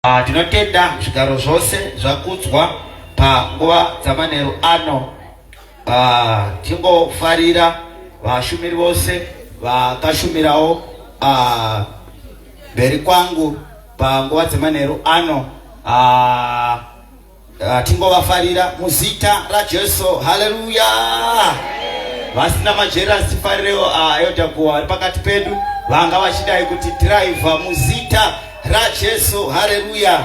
Ah, tinotenda zvigaro zvose zvakudzwa panguva dzamanheru ano ah, tingofarira vashumiri vose vakashumirawo ah, mberi kwangu panguva dzemanheru ano Ah, tingovafarira muzita rajesu haleluya vasina majeras tifarirewo ah, yotakuwa pakati pedu vanga vachidai kuti dhiraivha muzita rajesu haleluya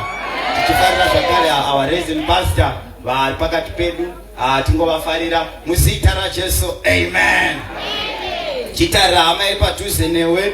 tichifarira zvakare ah, our resin pastor vari pakati pedu tingovafarira muzita rajesu amen chitarira hama yepadhuze newe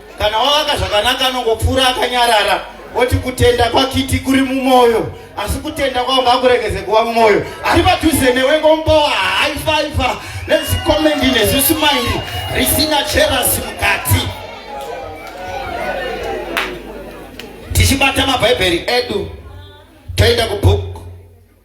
kana wavaka zvakanaka anongopfuura akanyarara oti kutenda kwakiti kuri mumwoyo asi kutenda kwavo ngakuregeze kuva mumwoyo ari padhuze newe ngombowa haifaifa nezikomendi nezvisumairi risina cherasi mukati tichibata mabhaibheri edu toenda kubhuku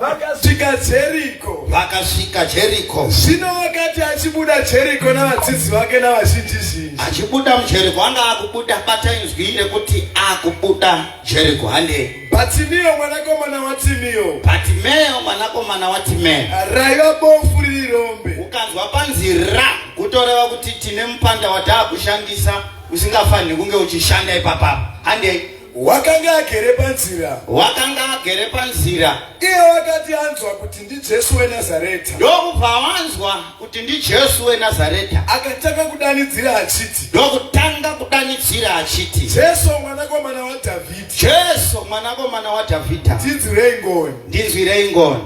vakasvika jeriko vakasvika jeriko zvino wakati achibuda jeriko navadzidzi vake navazhinji zhinji achibuda mujeriko anga akubuda bata inzwi rekuti akubuda jeriko hande batimiyo mwanakomana watimiyo batimeyo mwanakomana watimeyo raiva bofu riri rombe ukanzwa panzi ra kutoreva kuti tine mupanda wataa kushandisa usingafaniri kunge uchishanda ipapa handei wakanga agere panzira wakanga agere panzira iye wakati anzwa kuti ndijesu wenazareta ndokubva wanzwa kuti ndijesu wenazareta akatanga kudanidzira achiti ndokutanga kudanidzira achiti jesu mwanakomana wadhavhidhi jesu mwanakomana wadhavhidha ndinzwirei ngoni ndinzwirei ngoni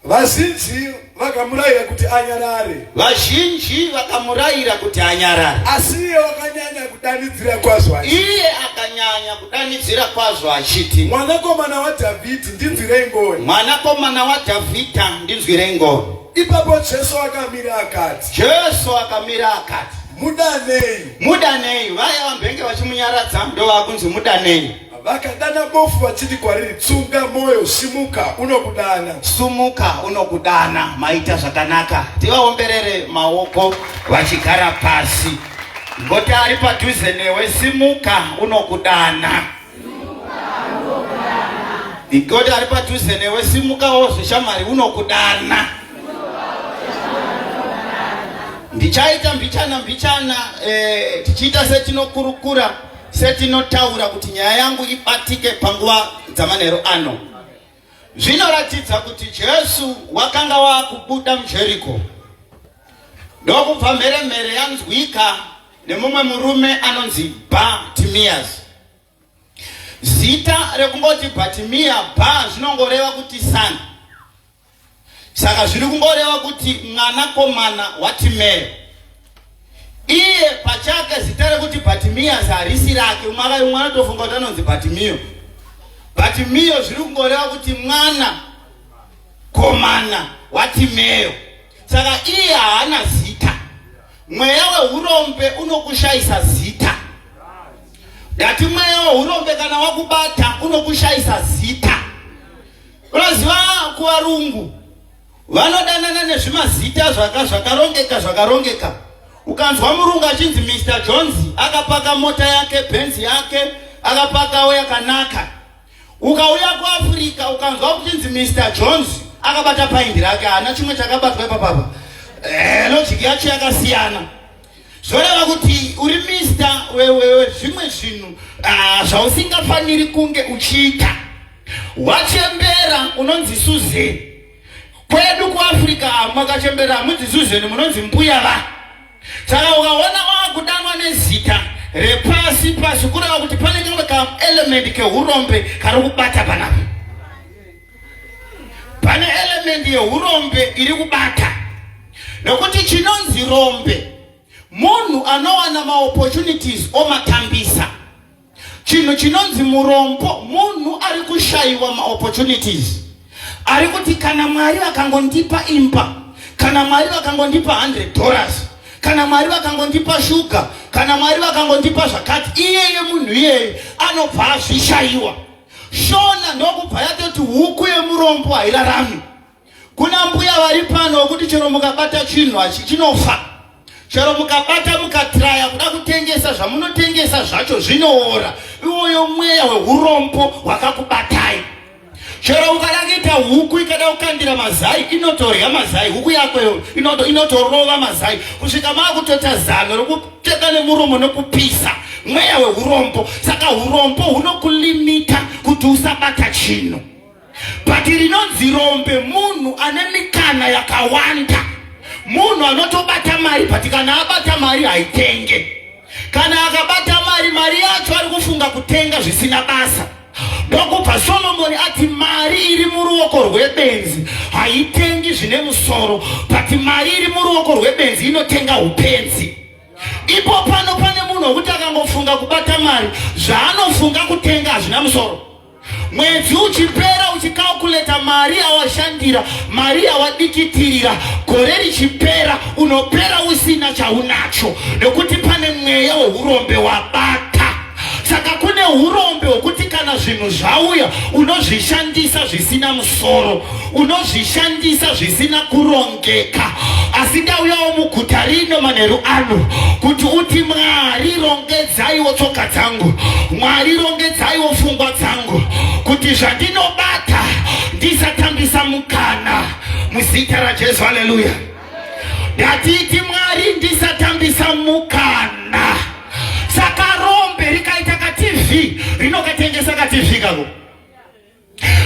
Vazhinji vakamurayira kuti anyarare. Vazhinji vakamurayira kuti anyarare. Asi iye wakanyanya kudanidzira kwazvo achiti. Iye akanyanya kudanidzira kwazvo achiti. Mwanakomana waDhavhidhi ndinzwirei ngoni. Mwanakomana waDhavhidhi ndinzwirei ngoni. Ipapo Jesu akamira akati. Jesu akamira akati. Mudanei. Mudanei. Vaya vambenge vachimunyaradza ndovava kunzi mudanei. Vakadana bofu vachiti kwariri, tsunga moyo, simuka, unokudana. Sumuka, unokudana. Maita zvakanaka. Tivaomberere maoko vachigara pasi. Ngoti ari padhuze newe, simuka, unokudana. Ngoti ari padhuze newe, simukawo zveshamwari, unokudana. Ndichaita mbichana mbichana eh, tichiita setinokurukura Setinotaura kuti nyaya yangu ibatike panguva dzamanheru ano, zvinoratidza kuti Jesu wakanga wakubuda muJeriko ndokubva mhere mhere yanzwika nemumwe murume anonzi Bartimaeus. Zita rekungoti Bartimea ba zvinongoreva kuti sani Saka zviri kungoreva kuti mwanakomana waTimeo iye pachake zita rekuti Bhatimiyasi harisi rake. Umwe akayi umwe anotofunga kuti anonzi Bhatimiyo. Bhatimiyo zviri kungoreva kuti mwana komana waTimeo. Saka iye haana zita. Mweya wehurombe unokushayisa zita. Ndati mweya wehurombe kana wakubata unokushayisa zita. Unoziva kuvarungu vanodanana nezvimazita zvaka zvakarongeka zvakarongeka. Ukanzwa murungu achinzi Mr Jones akapaka mota yake benzi yake akapakawo yakanaka. Ukauya kuAfrica ukanzwa kuchinzi Mr Jones akabata paindi rake haana chimwe chakabatwa ipapapa. Eh, logic yacho yakasiyana. zvoreva kuti uri mista wewewe zvimwe zvinhu ah, zvausingafaniri kunge uchiita wachembera unonzi suzeni kwedu kuafrica makachembera hamunzi suzeni munonzi mbuya va saka ukaona wakudanwa nezita repasi pasi kureva kuti pane kamwe kaelementi keurombe kari kubata panapa pane elementi yeurombe iri kubata nokuti chinonzi rombe munhu anowana maopportunities omatambisa chinhu chinonzi murombo munhu ari kushayiwa maopportunities ari kuti kana mwari vakangondipa imba kana mwari vakangondipa 100 dollars kana mwari vakangondipa shuga kana mwari vakangondipa zvakati iyeye munhu iyeye anobva azvishayiwa Shona ndokubva yatoti huku yemurombo hairarami. Kuna mbuya vari pano wokuti chero mukabata chinhu hachi chinofa. Chero mukabata mukatraya kuda kutengesa zvamunotengesa zvacho zvinoora. Iwoyo mweya wehurombo hwakakubatai. Chero ukada kuita huku ikada kukandira mazai inotorya mazai huku yako inotorova mazai kusvika maakutota zano rokup teka nemuromo nokupisa mweya wehurombo saka urombo hunokulimita kuti usabata chinhu but rinonzi rombe munhu ane mikana yakawanda munhu anotobata mari but kana abata mari haitenge kana akabata mari mari yacho ari kufunga kutenga zvisina basa Ndokubva Solomoni ati mari iri muruoko rwebenzi haitengi zvine musoro, but mari iri muruoko rwebenzi inotenga upenzi. Ipo pano pane munhu wekuti akangofunga kubata mari, zvaanofunga kutenga hazvina musoro. Mwedzi uchipera uchikalkuleta mari yawashandira, mari yawadikitirira, gore richipera unopera usina chaunacho, nekuti pane mweya weurombe wabata. saka kune urombe hwekuti kana zvinhu zvauya unozvishandisa zvisina musoro unozvishandisa zvisina kurongeka asi ndauyawo muguta rino manheru ano kuti uti mwari rongedzaiwo tsoka dzangu mwari rongedzaiwo pfungwa dzangu kuti zvandinobata ndisatambisa mukana muzita rajesu haleluya Ngatiti Mwari ndisatambisa mukana. Saka rombe rikaita ka TV rinokatengesa ka TV kako.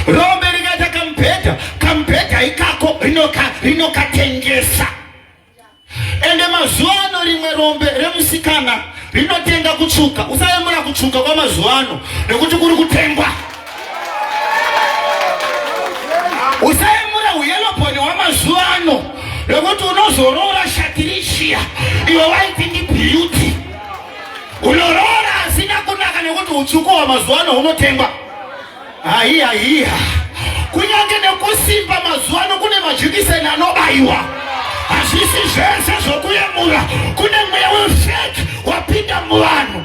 Rombe rikaita kamubhedha, kamubhedha ikako rinoka rinokatengesa. Ende mazuva ano rimwe rombe remusikana rinotenga kutsvuka. Usayemura kutsvuka kwamazuva ano nekuti kuri kutengwa. usaimura huyelobhoni wamazuva ano lokuti unozoroora shatirishiya iwe waiti ndi beauty unoroora asina kunaka nekuti utsvuku wamazuva ano unotengwa haiya hiya kunyange nekusimba mazuva ano kune majikiseni anobaiwa hazvisi zvese zvokuyemura kune mweya wefeki wapinda muvanhu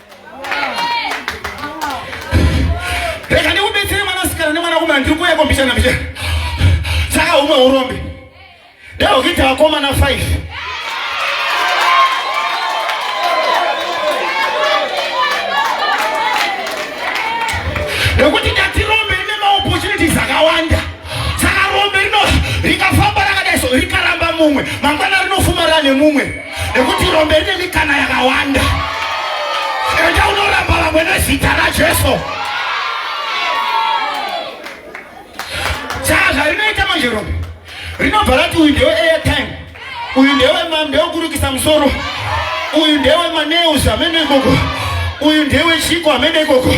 rega ndikubetsere mwana sikana nemwana kumana ndiri kuuya kombishana mbichana saka umwe urombe ndaokuita vakomana 5 nekuti ndatirombe rine maopportunities akawanda saka rombe rino rikafamba rakadai so rikaramba mumwe mangwana rinofuma rane mumwe nekuti rombe rine mikana yakawanda enda unoramba vamwe nezita rajesu saa zvarinoita manje rombe rinobva rati uyu ndewe airtime uyu ndewe ndewekurukisa musoro uyu ndewe maneus amene ikoko uyu ndewe chiko amene ikoko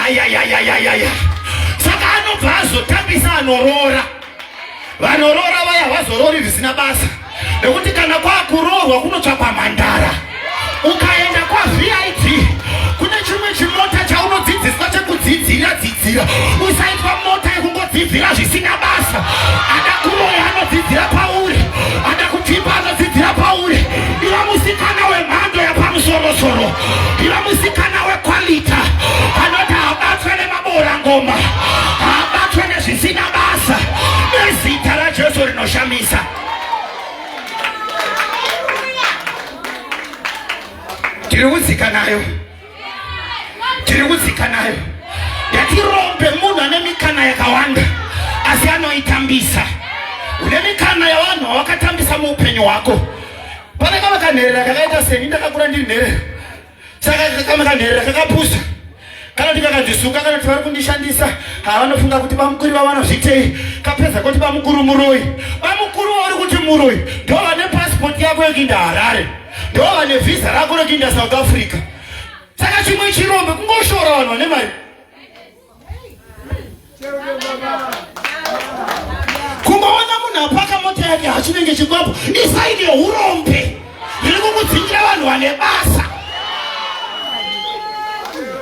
ayayayayayaya saka anobva azotambisa anoroora Vanoroora vaya havazorori zvisina basa, nekuti kana kwakuroorwa kunotsvakwa mhandara. Ukaenda kwaVID kune chimwe chimota chaunodzidziswa chekudzidzira dzidzira, usaitwa mota yekungodzidzira zvisina basa. Ada kuroya anodzidzira pauri, ada kutipa anodzidzira pauri. Iva musikana wemhando yapamusoro soro, iva musikana wekwalita. Boora ngoma habatwe nezvisina basa nezita raJesu rinoshamisa. Tiri kudzika nayo, tiri kudzika nayo. Ngatirombe munhu ane mikana yakawanda asi anoitambisa. Une mikana yavanhu vawakatambisa muupenyu hwako. Pane kava kanherera kakaita seni ndakakura ndiri nherera saka kakama kanherera kakapusa kana ndikakandisuka kana kuti vari kundishandisa havanofunga kuti bamukuri vavo vanozvitei kapedza kuti bamukuru muroyi bamukuru vauri kuti muroyi ndo vane pasipoti yako yekuinda harare ndo vane vhisa rako rekuinda south africa saka chimwe chirombe kungoshora vanhu vane mari kungoona munhu apaka mota yake hachinenge chikwapo isaine urombe riri kukudzingira vanhu vane basa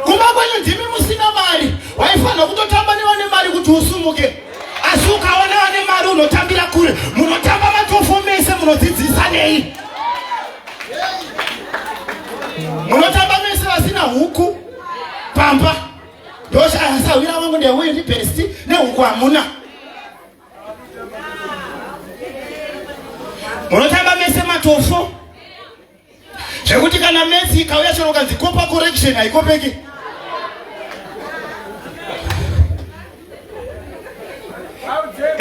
kumba kwenyu ndimi musina mari waifanira kutotamba nevane mari kuti usumuke asi ukaona vane mari unotambira kure munotamba matofo mese munodzidzisa nei munotamba mese vasina huku pamba ndoshaya sahwira wangu ndeuyu ndi besti nehuku hamuna munotamba mese matofo zvekuti kana mesi ikauya chero ukanzi kopa correction haikopeki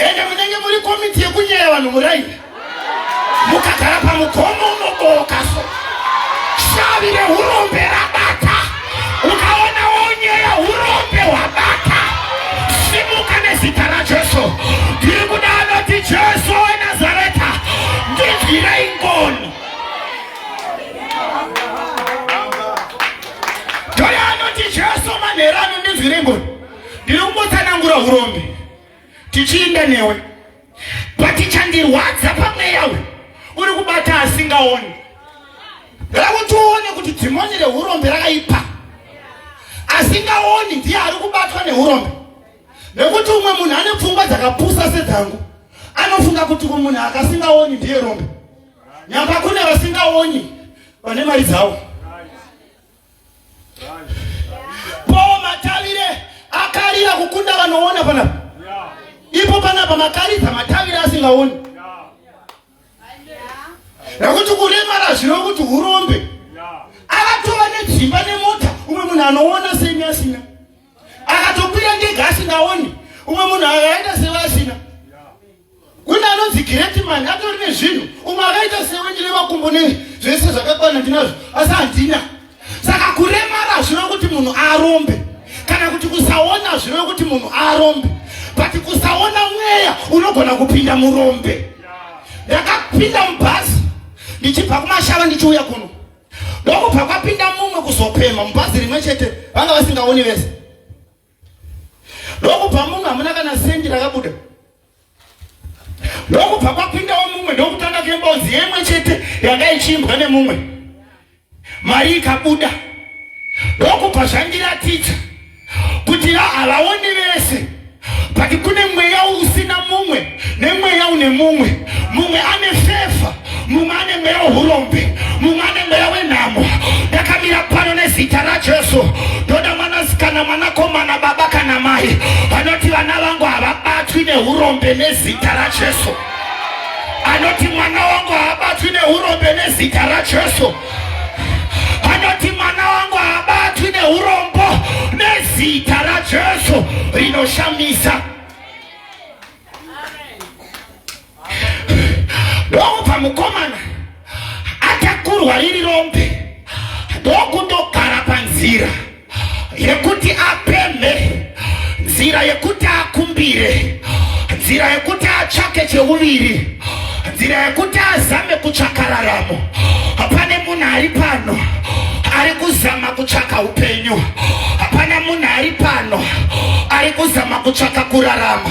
ende munenge muri komiti yekunyaya vanhu muraini mukagara pamugomo unobooka so shavi reurombe rabata ukaona wonyeya urombe hwabata simuka nezita rajesu ndiri kuda anoti jesu wenazareta ndinzwirei ngoni ndoyo anoti jesu manherano ndinzwirei ngoni ndinongotsanangura hurombe tichiinda newe but chandirwadza pamweya uyu uri kubata asingaoni rakuti uone kuti dhimoni rehurombe rakaipa asingaoni ndiye ari kubatwa neurombe nekuti umwe munhu ane pfungwa dzakapusa sedzangu anofunga kuti kumunhu akasingaoni ndiye rombe nyamba kune vasingaoni vane mari dzavo Paul Matavire akarira kukunda vanoona panapa. Ipo panapa makaridza matavire asingaoni. Nekuti kuremara zvino kuti hurombe. Akatova nedzimba nemota umwe munhu anoona semi asina. Akatokwira ndege asingaoni umwe munhu akaenda sevasina. Kune anonzi great man atori nezvinhu umwe akaita sewe ndine makumbo ne zvese zvakakwana ndinazvo asi handina. Saka kuremara hazvina kuti munhu arombe kana kuti kusaona hazvina kuti munhu arombe but kusaona mweya unogona kupinda murombe. Ndakapinda mubhazi ndichibva kumashava ndichiuya kuno ndokubva kwapinda mumwe kuzopema mubhazi rimwe chete vanga vasingaoni vese ndokubva munhu hamuna kana sendi rakabuda ndokubva kwapindawo mumwe ndokutanga kembozi yemwe chete yanga ichiimbwa nemumwe mari ikabuda ndokubva zvandiratidza kuti havaoni vese but kune mweya usina mumwe nemweya une mumwe mumwe ane fefa mumwe ane mweya wehurombe mumwe ane mweya wenhamo ndakamira pano nezita rajesu ndoda mwanasikana mwanakomana baba kana mai vanoti vana vangu havabatwi neurombe nezita rajesu anoti mwana wangu haabatwi neurombe nezita rajesu anoti mwana wangu haabatwi neurombo nezita rajesu rinoshamisa ndokubva mukomana atakurwa riri rombe ndokundogara panzira yekuti apemhe nzira yekuti akumbire nzira yekuti atsvake cheuviri nzira yekuti azame kutsvaka raramo hapane munhu ari pano ari kuzama kutsvaka upenyu hapana munhu ari pano ari kuzama kutsvaka kurarama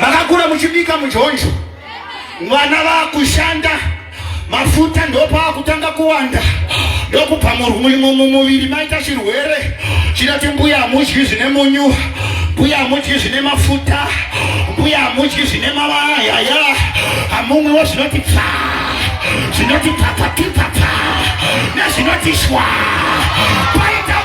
makakura muchibika mujonjo mwana vakushanda mafuta ndopaakutanga kuwanda ndokubva mumuviri maita chirwere chinoti mbuya hamudyi zvine munyu mbuya hamudyi zvine mafuta mbuya hamudyi zvine mavayaya hamumwiwo zvinoti pfa zvinoti pfapfapipfapfa nezvinoti shwa paita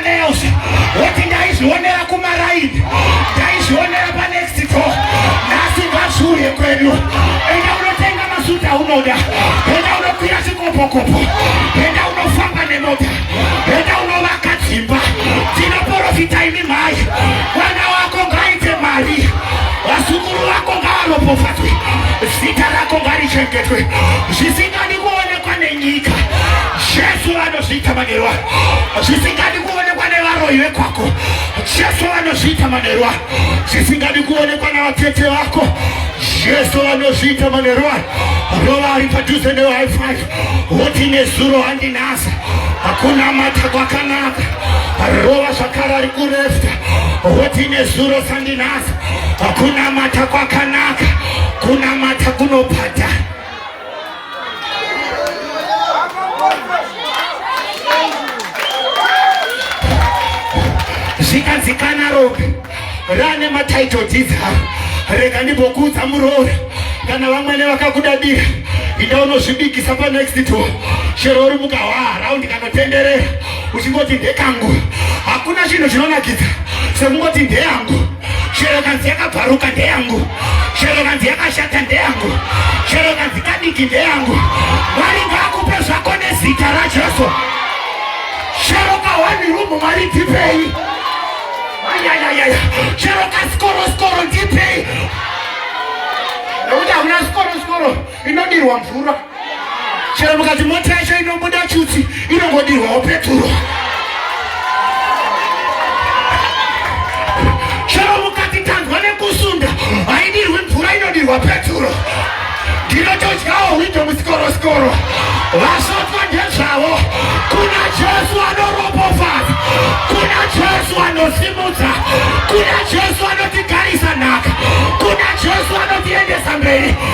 nails woti ndaizvionera kumaraini ndaizvionera panext to nhasi ngazviuye kwedu enda unotenga masuta unoda enda unokwira chikopokopo enda unofamba nemota enda unovaka dzimba tinoporofita imi mhai mwana wako ngaite mari vazukuru vako ngavaropofadzwe zita rako ngarichengetwe zvisingadi kuonekwa nenyika jesu vano zviita manheru ayo zvisingadi kuonekwa nevaroyi vekwako jesu vanozviita manheru ayo zvisingadi kuonekwa navatete vako jesu vanozviita manheru ayo rova ari padhuze newifi woti nezuro handinasa hakuna mata kwakanaka rova zvakare ari kurefta woti nezuro sandinasa hakuna mata kwakanaka kunamata kunobhadhara zvikadzikana rope rane matitle dzidza rega ndimbokuudza muroora kana vamwene vakakudadira inda unozvibikisa panext to chero uri mugawaa raundi kanotenderera uchingoti ndekangu hakuna chinhu chinonakidza sekungoti ndeyangu chero kanzi yakabvaruka ndeyangu chero kanzi yakashata ndeyangu chero kanzi kadiki ndeyangu mwari ngaakupe zvako nezita rajesu chero kahwani rumu mwari ndipei ayayayaya chero kasikoro sikoro ndipei nekuti hakuna sikoro sikoro inodirwa mvura chero mukati mota yacho inobuda chuti inongodirwawo peturo chero mukati tanzwa nekusunda haidirwi mvura inodirwa peturo ndinotodyawo hwindo musikorosikoro vasotwa ndezvavo kuna jesu anoropofadza kuna jesu anosimudza kuna jesu anotigarisa nhaka kuna jesu anotiendesa mberi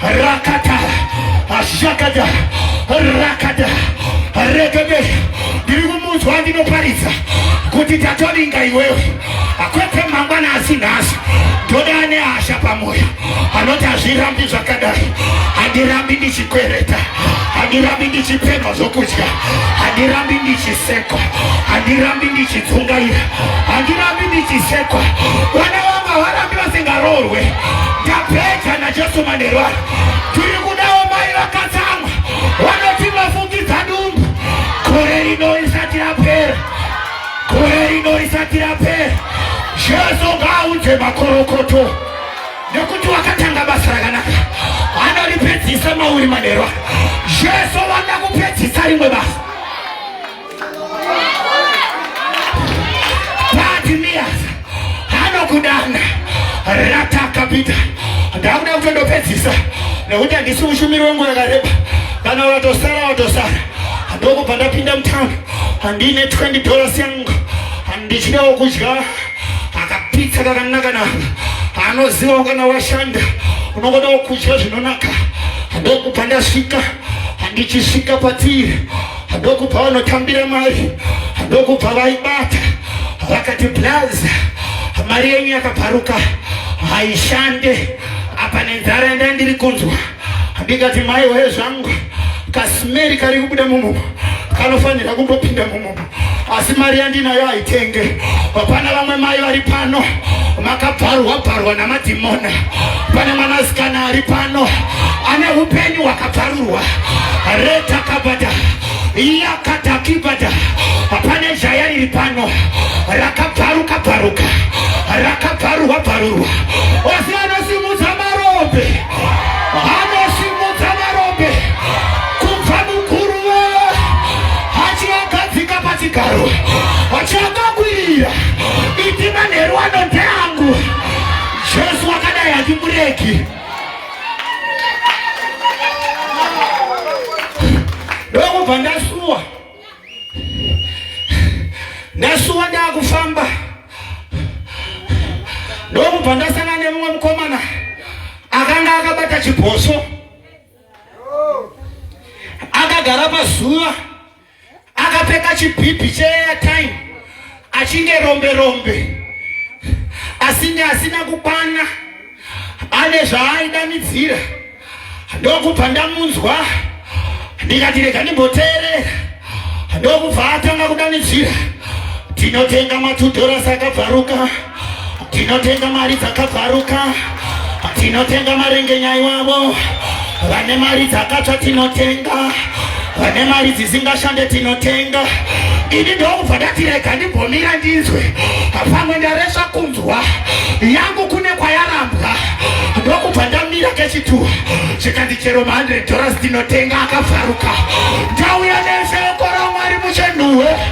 rakata ashakada rakada regede ndiri kumunzwa ndinoparidza kuti tatoringa iwewe akwete mangwana asi nhasi ndoda ane hasha pamwoyo anoti hazvirambi zvakadai handirambi ndichikwereta handirambi ndichipemha zvokudya handirambi ndichisekwa handirambi ndichidzungaira handirambi ndichisekwa vana vanga varambi vasingaroorwe Tapedza naJesu manheru ano. Tiri kudawo mai vakatsamwa vanoti vafungidza dumbu. Gore rino risati rapera. Gore rino risati rapera. Jesu ngaaunze makorokoto nekuti wakatanga basa rakanaka anoripedzisa mauri manheru ano. Jesu vada kupedzisa rimwe basa. ratakapita ndakuda kutondopedzisa nekuti handisi mushumiri wenguva yakareba kana vatosara vatosara ndokubva ndapinda mutown handiine 20 dollars yangu handichidawo kudya akapitsa kakanaka naka anozivawo kana washanda unokodawo kudya zvinonaka ndokubva ndasvika handichisvika patiri ndokubva vanotambira mari ndokubva vaibata vakati blaza mari yenyu yakabvaruka haishande apa nenzara yandai ndiri kunzwa ndikati mai waye zvangu kasimeri kari kubuda mumumo kanofanira kumbopinda mumumo asi mari yandinayo haitenge hapana vamwe mai vari pano makabvarwa bvarwa namadhimona pane mwanasikana ari pano ane upenyu hwaka Taruwa reta kabada yakatakibada pane jaya riri pano rakabvaruka bvaruka rakabvarurwa bvarurwa osi anosimudza marombe anosimudza marombe kubva mukuru wee achiagadzika pachigaro chakakwirira iti manheru ano ndeangu jesu akadai hatimureki ndokubva ndasuwa ndasuwa ndakufamba ndokubva ndasangana nemumwe mukomana akanga akabata chibhoso akagara pazuva akapfeka chibhibhi cheairtime achinge rombe rombe asinge asina kukwana ane zvaaidanidzira ndokubva ndamunzwa ndikati rega ndimboteerera ndokubva atanga kudanidzira tinotenga matudhorasi akabvaruka Tinotenga mari dzakabvaruka, tinotenga marengenya iwavo. Vane mari dzakatsva tinotenga, vane mari dzisingashande tinotenga. Ini ndokubva ndati rega ndimbomira ndinzwe, pamwe ndaresva kunzwa yangu kune kwayarambwa. Ndokubva ndamira kechituwa chikanzi chero ma 100 dollars tinotenga akabvaruka. Ndauya neshoko raMwari muchenhuwe.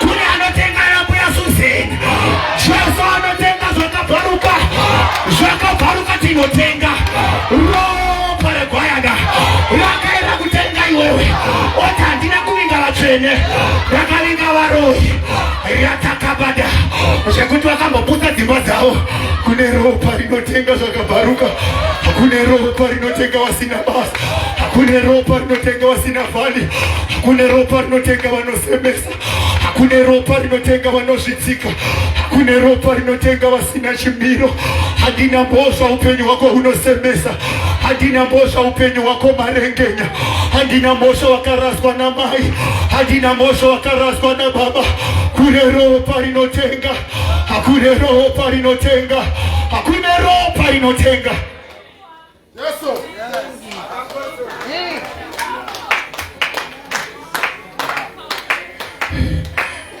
Kune anotenga yambuya Suzeni. Jesu anotenga zvakabvaruka. Zvakabvaruka tinotenga. Ropa regwayana rakaenda kutenga iwewe. Oti handina kuvinga vatsvene. Rakavinga varoyi. Ratakabada. Zvekuti vakamboputsa dzimba dzavo. Kune ropa rinotenga zvakabvaruka. Kune ropa rinotenga vasina basa. Kune ropa rinotenga vasina vhali. Kune ropa rinotenga vano semesa hakune ropa rinotenga vanozvidzika hakune ropa rinotenga vasina chimiro handina mbozva upenyu hwako hunosemesa handina mbozva upenyu hwako marengenya handina mhosva wakaraswa namai handina mhosva wakaraswa nababa kune ropa rinotenga hakune ropa rinotenga hakune ropa rinotenga Yes, sir. Yes.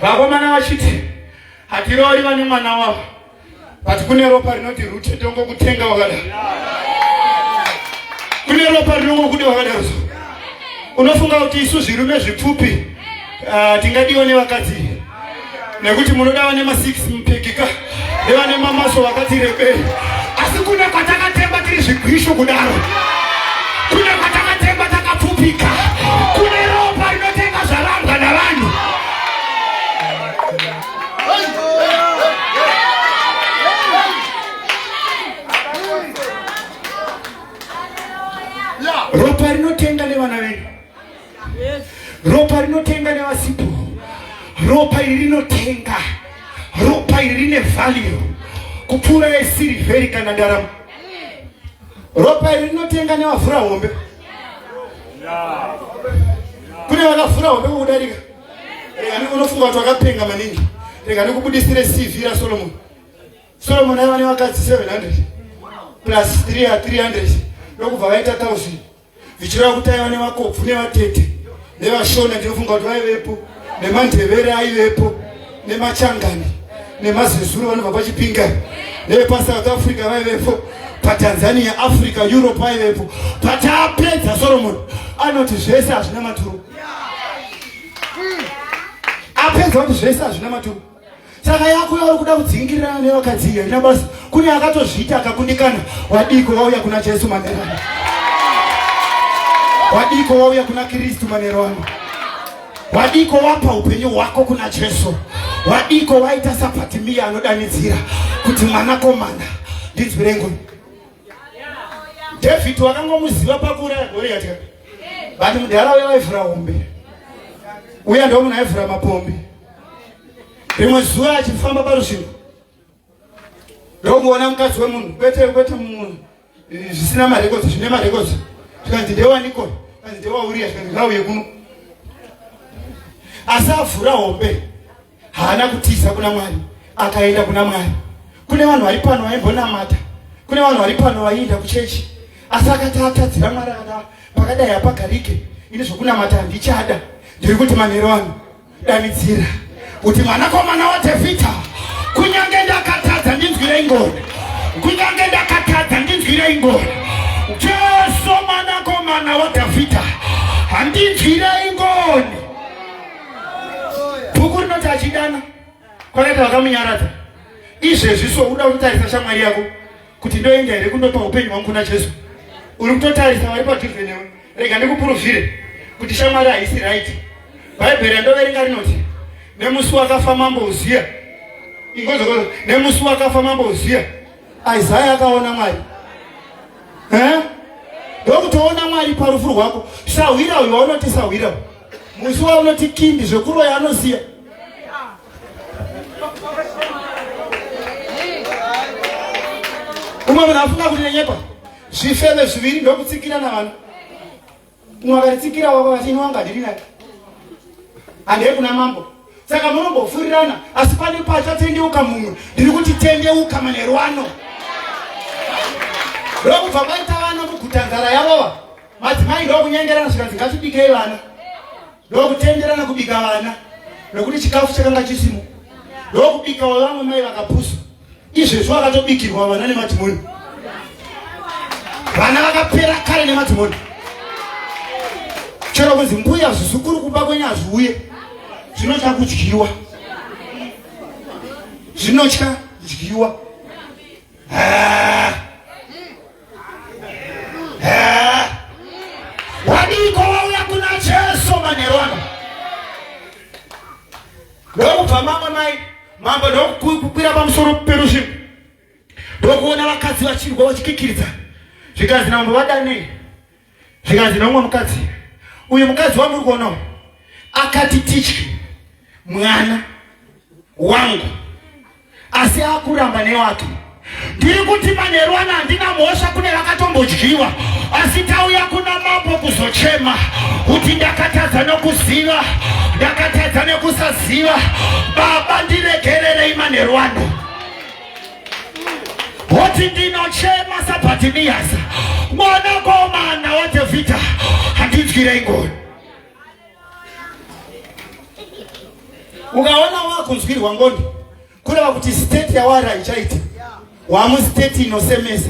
vakomana vachiti hatiroori vane mwana wavo but kune ropa rinoti rute tongokutenga wakada kune ropa rinongokuda wakadaro so unofunga kuti isu zvirume zvipfupi uh, tingadiwa nevakadzi nekuti munoda vane ma 6 mupikika nevane mamaso vakati rebei asi kune kwatakatemba tiri zvigwishu kudaro kune kwatakatemba takapfupika kune ropa rinotenga zvarambwa navanhu ropa rinotenga nevana venyu ropa rinotenga nevasipo ropa iri rinotenga ropa iri rine value kupfuura yesirivheri kana ndarama ropa iri rinotenga nevavhura hombe kune vakavhura hombe kukudarika rega nikunofunga kuti vakapenga maningi rega nikubudisire cv rasolomoni solomoni aiva nevakadzi 700 plus 3 300 ndokubva vaita 1000 zvichireva kuti aiva nevakobvu nevatete nevashona ndinofunga kuti vaivepo nemandevere aivepo nemachangani nemazezuru vanobva pachipinga nevepasouth africa vaivepo patanzania africa europe vaivepo pataapedza soromoni anoti zvese hazvina maturo apedza kuti zvese hazvina maturo saka yako yauri kuda kudzingirirana nevakadzi iyo ina basa kune akatozviita akakundikana wadiko wauya kuna jesu manero ano wadiko wauya kuna kristu manero ano wadiko wapa upenyu hwako kuna jesu wadiko waita safatimiya anodanidzira kuti mwanakomana ndinzwi rengu dhavhidhi wakangomuziva pakuuraya goriyati but mudhara uya waivhura hombe uya ndomunhu aivhura mapombi rimwe zuva achifamba parusvingo ndokuona mukadzi wemunhu kwete kwete munhu zvisina marekodzi zvine marekodzi zvikanzi ndewaniko kanzi ndewauriya zvikanzi ngauye kuno asi avhura hombe haana kutiza kuna mwari akaenda kuna mwari kune vanhu vari pano vaimbonamata kune vanhu vari pano vaienda kuchechi asi akati atadzira mwari akada pakadai hapagarike ini zvokunamata handichada ndiri kuti manhero ano Danidzira kuti mwanakomana waDhavhidha, kunyange ndakatadza ndinzwirei ngoni, kunyange ndakatadza ndinzwirei ngoni. Jesu mwanakomana waDhavhidha, handinzwirei ngoni. Bhuku rinoti achidana kwakaita vakamunyaradza izvezvi so uda kutitarisa shamwari yako kuti ndoenda here kundopa upenyu hwangu kuna jesu uri kutotarisa vari padhuze newe rega ndikupuruvhire kuti shamwari haisi right bhaibheri yandoverenga rinoti nemusi wakafa mambo uziya ingozokozo nemusi wakafa mambo uziya isaya akaona mwari eh? ndokutoona mwari parufu rwako sahwira uyu waunoti sahwira musi waunoti kindi zvekuroya anosiya umwe munhu afunga kuti nenyepa zvifeve zviviri ndokutsikira navanhu umwe akatitsikira wako vati ini wangadiri naye handei kuna mambo saka munombofurirana asi pane pachatendeuka mumwe ndiri kuti tendeuka manheru ano ndokubva maita vana muguta nzara yavova madzimai ndokunyengerana zvikanzi ngatibikei vana ndokutenderana kubika vana nokuti chikafu chakanga chisimo ndokubika wavamwe mai vakapusa izvezvo vakatobikirwa vana nemadhimoni vana vakapera kare nemadhimoni chero kunzi mbuya zvizukuru kumba kwenyu hazviuye zvinotya kudyiwa zvinotya kudyiwa Wadiko wauya kuna Jesu manheru ano ndokubva mamwe mai mambo ndokukwira pamusoro perusvingo ndokuona vakadzi vachirwa vachikikiridza zvikanzi nambo vadanei zvikanzi nomwe mukadzi uyu mukadzi wamuri kuona akati titye mwana wangu asi akuramba newake ndiri kuti manheru ano handina mhosva kune vakatombodyiwa asi tauya kuna mambo kuzochema kuti ndakatadza nokuziva ndakatadza nekusaziva baba ndiregererei manheru ano woti ndinochema sabhatiniyasa mwanakomana wadhavhidha handinzwirei ngoni ukaona wakunzwirwa ngoni kureva kuti state yawari haichaiti wamustate inosemesa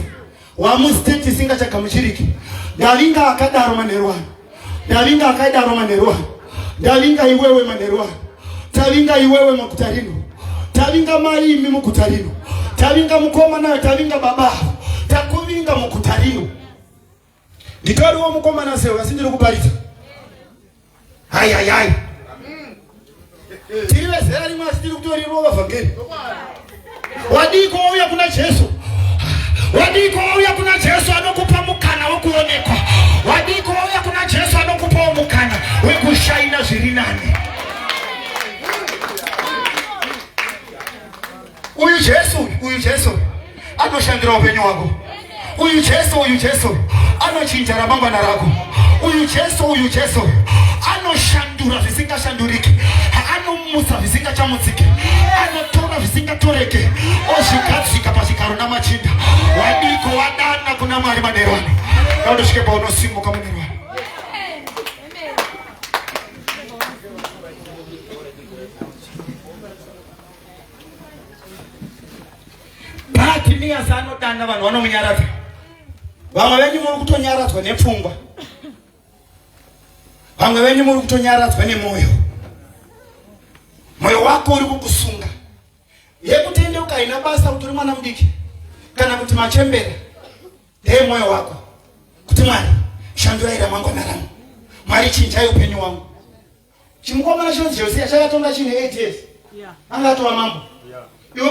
wamustate isingachagamuchiriki ndavinga akadaro manheru ano ndavinga akaidaro manheru ano ndavinga iwewe manheru ano tavinga iwewe maguta rino tavinga mai imi muguta rino tavinga mukoma nayo tavinga baba avo takuvinga muguta rino nditoriwo mukomana sewe asi ndiri kuparidza Hai hai hai. Tiri vezera rimwe asi tiri kutorirova vhangeri. Wadiko wauya kuna Jesu. Wadiko wauya kuna Jesu anokupa mukana wokuonekwa. Wadiko wauya kuna Jesu anokupawo mukana wekushaina zviri nani. Uyu Jesu, uyu Jesu anoshandira upenyu hwako. Uyu Jesu, uyu Jesu anochinja ramangwana rako. Uyu Jesu, uyu Jesu anoshandura zvisingashanduriki, anomutsa zvisingachamutsiki, anotora zvisingatoreke, ozvigadzika pazvigaro namachinda. Wadiko wadana kuna Mwari manerwani, naundosvike paunosimuka munerwani. Bartimeus anodana vanhu vanomunyaradza. Vamwe venyu muri kutonyaradzwa nepfungwa. Vamwe venyu muri kutonyaradzwa nemwoyo. Mwoyo wako uri kukusunga. Yekutendeuka haina basa kuti uri mwana mudiki kana kuti machembera. Dee mwoyo wako kuti Mwari shanduraira mangwana rangu. Mwari chinjai upenyu wangu. Chimukomana chinonzi Josiya chakatonga chine 8 years. Anga atova mambo. Iwe